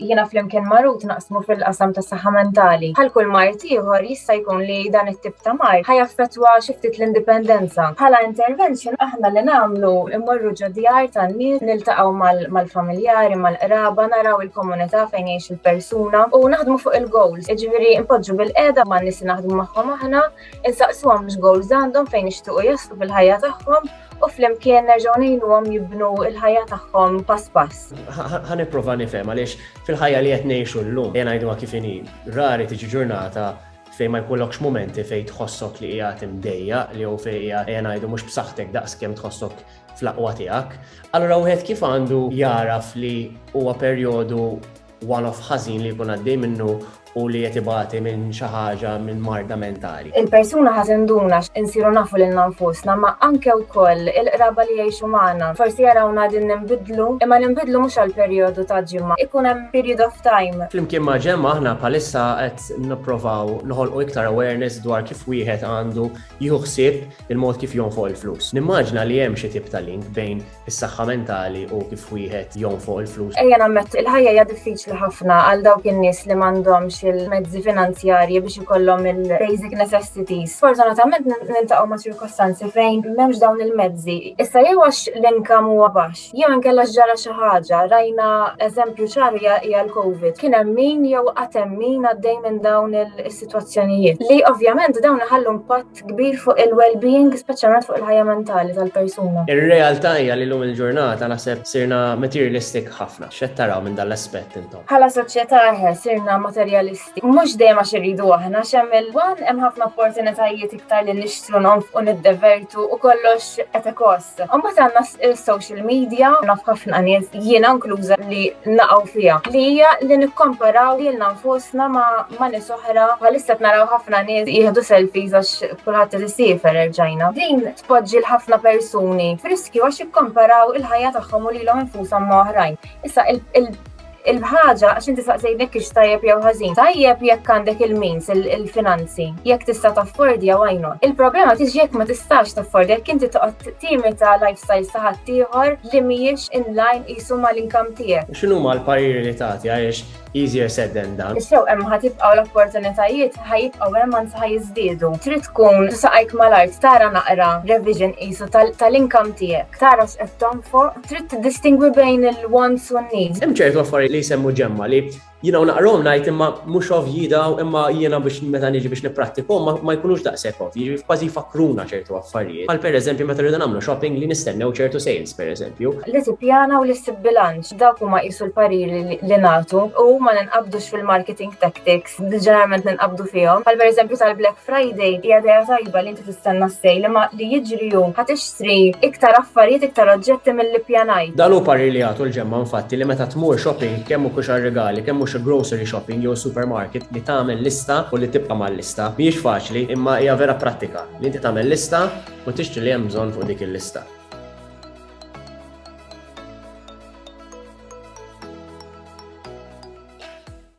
jiena flimkien ma' Ruth naqsmu fil-qasam tas saħħa mentali. Bħal kull mart ieħor jista' jkun li dan it-tip ta' mart ħajaffettwa xi ftit l-indipendenza. Bħala intervention aħna li nagħmlu immorru ġo djar tan-nies, niltaqgħu mal-familjari, mal-qraba, naraw il-komunità fejn jgħix il-persuna u naħdmu fuq il-goals. Jiġifieri npoġġu bil-qiegħda man-nies li naħdmu magħhom aħna Insaqsuhom x'goals għandhom fejn ixtuqu jaslu fil-ħajja tagħhom u flimkien nerġgħu ngħinuhom jibnu l-ħajja tagħhom pass pass. Ħa nipprova nifhem għaliex fil-ħajja li qed ngħixu llum jien ngħiduha kif inhi rari tiġi ġurnata fejn ma jkollokx momenti fejn tħossok li qiegħed imdejja li jew fejn qiegħed qiegħed ngħidu mhux b'saħħtek daqskemm tħossok fl-aqwa tiegħek. Allura wieħed kif għandu jaraf li huwa perjodu one-off ħażin li jkun għaddej minnu u li qed ibati minn xi ħaġa, minn marda mentali. Il-persuna ħa tinduna x'insiru nafu lilna nfusna ma anke wkoll il-qraba li jgħixu magħna. Forsi jarawna qegħdin ninbidlu, imma ninbidlu mhux għal perjodu ta' ġimgħa, ikun hemm period of time. Flimkien ma' Gemma aħna bħalissa qed nipprovaw noħolqu iktar awareness dwar kif wieħed għandu jieħu ħsieb il-mod kif jonfoq il-flus. Nimmaġina li hemm xi tip ta' link bejn is-saħħa mentali u kif wieħed jgħum fuq il-flus. Ejja nammettu, il-ħajja hija diffiċli ħafna għal dawk in-nies li m'għandhomx il-mezzi finanzjarji biex ikollhom il-basic necessities. Fortunatament nintaqgħu ma' ċirkostanzi fejn m'hemmx dawn il-mezzi. Issa jew għax l-inkam huwa baxx, jew inkella ġara xi ħaġa, rajna eżempju ċar hija l-COVID. Kien hemm min jew qatt hemm min għaddej minn dawn is-sitwazzjonijiet li ovvjament dawn iħallu impatt impatt kbir fuq il-well-being, speċjalment fuq il-ħajja mentali tal-persuna. Ir-realtà hija li lum il-ġurnata naħseb sirna materialistic ħafna. X'qed taraw minn dan l-aspett intom? Bħala soċjetà eħe sirna materialisti. Mhux dejjem għax irridu aħna x'hemm il-wan hemm ħafna opportunitajiet iktar li nixtru nonfqu niddevertu u kollox qed ikos. Imbagħad għandna s-social media, naf ħafna nies jiena inkluża li naqgħu fiha. Li hija li nikkomparaw lilna nfusna ma' nies oħra, bħalissa naraw ħafna nies jieħdu selfies għax kulħadd li siefer erġajna. Din tpoġġi l-ħafna persuni friskju għax ikkomparaw il-ħajja tagħhom u lilhom infushom ma' oħrajn. Issa il il-ħaġa għax inti saqsejt jekk ix tajjeb jew ħażin. Tajjeb jekk għandek il-means, il-finanzi, jekk tista' taffordi jew għajnu. Il-problema tiġi jekk ma tistax taffordi jekk inti toqgħod timi ta' lifestyle ta' ħadd ieħor li mhijiex in line qisu mal-inkam tiegħek. X'inhu ma l-pariri li tagħti għaliex easier said than done. Sew hemm ħatibqgħu l-opportunitajiet ħajibqgħu hemm anzi ħajiżdiedu. Trid tkun saqajk mal-art tara naqra revision qisu tal-inkam tiegħek. Tara x'qed tonfoq Trid tiddistingwi bejn il-wants u n-needs. Hemm ċertu affarijiet li jsemmu ġemma li jiena u naqrom ngħid imma mhux ovvji daw imma jiena biex meta niġi biex nipprattikhom ma jkunux daqshekk ovvji, jiġifieri kważi jfakkruna ċertu affarijiet. Bħal pereżempju meta rridu nagħmlu shopping li nistennew ċertu sales pereżempju. Li tippjana u li ssib bilanċ, dawk huma qisu l-pariri li nagħtu u ma ninqabdux fil-marketing tactics. ġeneralment ninqabdu fihom. Bħal pereżempju tal-Black Friday hija dejja tajba li inti tistenna s-sejl imma li jiġri hu ħa tixtri iktar affarijiet, iktar oġġetti milli ppjanajt. Dan hu parir li jagħtu l-ġemgħa infatti li meta tmur shopping kemm hu kux għar-rigali, kemm hu xi grocery shopping jew supermarket li tagħmel lista u li tibqa' mal-lista. Mhijiex faċli imma hija vera prattika li inti tagħmel lista u tixtri li hemm bżonn fuq dik il-lista.